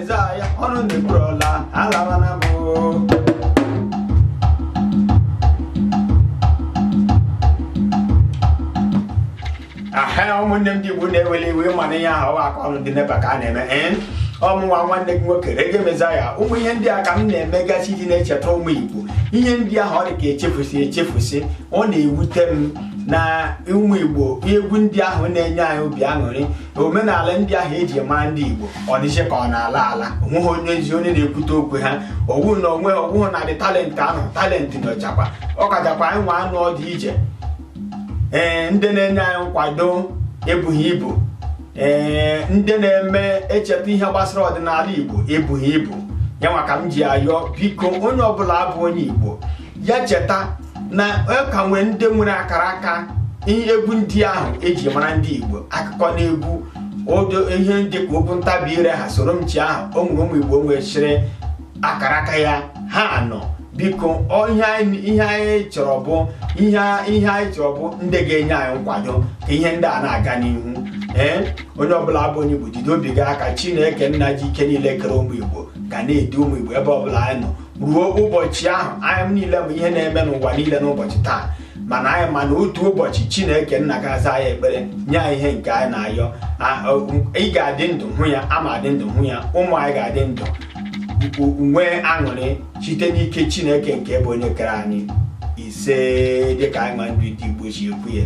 Aịzaya ọnụ ndị bụrụla alaba na mụ aha ụmụnne m ndị Igbo na-ewele iwe mana ihe ahụ aka ọnụ dị n'ebe ka a na-eme ee ọ mụnwa nwanne gị nwoke Reggae Messiah ụmụ ihe ndị a ka m na-emegasị iji na-echeta ụmụ Igbo ihe ndị ahụ ọ dị ka echefusi echefusi ọ na-ewute m na ụmụ Igbo egwu ndị ahụ na-enye anyị obi aṅụrị na omenala ndị ahụ eji maa ndị Igbo ọ dịzi ka ọ na-ala ala onweghị onye ezi onye na-ekwute okwu ha ọ wụ na o nwe ọ wụghị na the talent anọghị talent nọchakwa ọkachakwa anyị nwa nọ ọdị ije ee ndị na-enye anyị nkwado ebughị ibu ee ndị na-eme ncheta ihe gbasara ọdịnala Igbo ebughị ibu yanwa ka m ji ayọ biko onye ọbụla bụ onye Igbo ya cheta na a ka nwere ndị nwere akara aka ihe egwu ndị ahụ eji mara ndị Igbo akụkọ n'egwu odo ihe ndị ka okwu ntabi ire ha soro m chịa ahụ o nwere ụmụ Igbo nwesịrị akara aka ya ha nọ biko ihe anyị chọrọ bụ ihe anyị chọrọ bụ ndị ga-enye anyị nkwado ka ihe ndị a na-aga n'ihu ee onye ọbụla bụ onye Igbo jide obi gị aka Chineke nna ji ike niile kere ụmụ Igbo ga na-edu ụmụ Igbo ebe ọbụla anyị nọ ruo ụbọchị ahụ anyị niile hụ ihe na-eme n'ụwa niile n'ụbọchị taa mana anyị ma na otu ụbọchị chineke nna ga-aza anyị ekpere nye anyị ihe nke anyị na-ayọ ị ga-adị ndụ hụ ya aga m adị ndụ hụ ya ụmụ anyị ga-adị ndụ nwee aṅụrị site n'ike chineke nke bụ onye kere anyị ise dịka anyị ma ndị Igbo si ekwu ya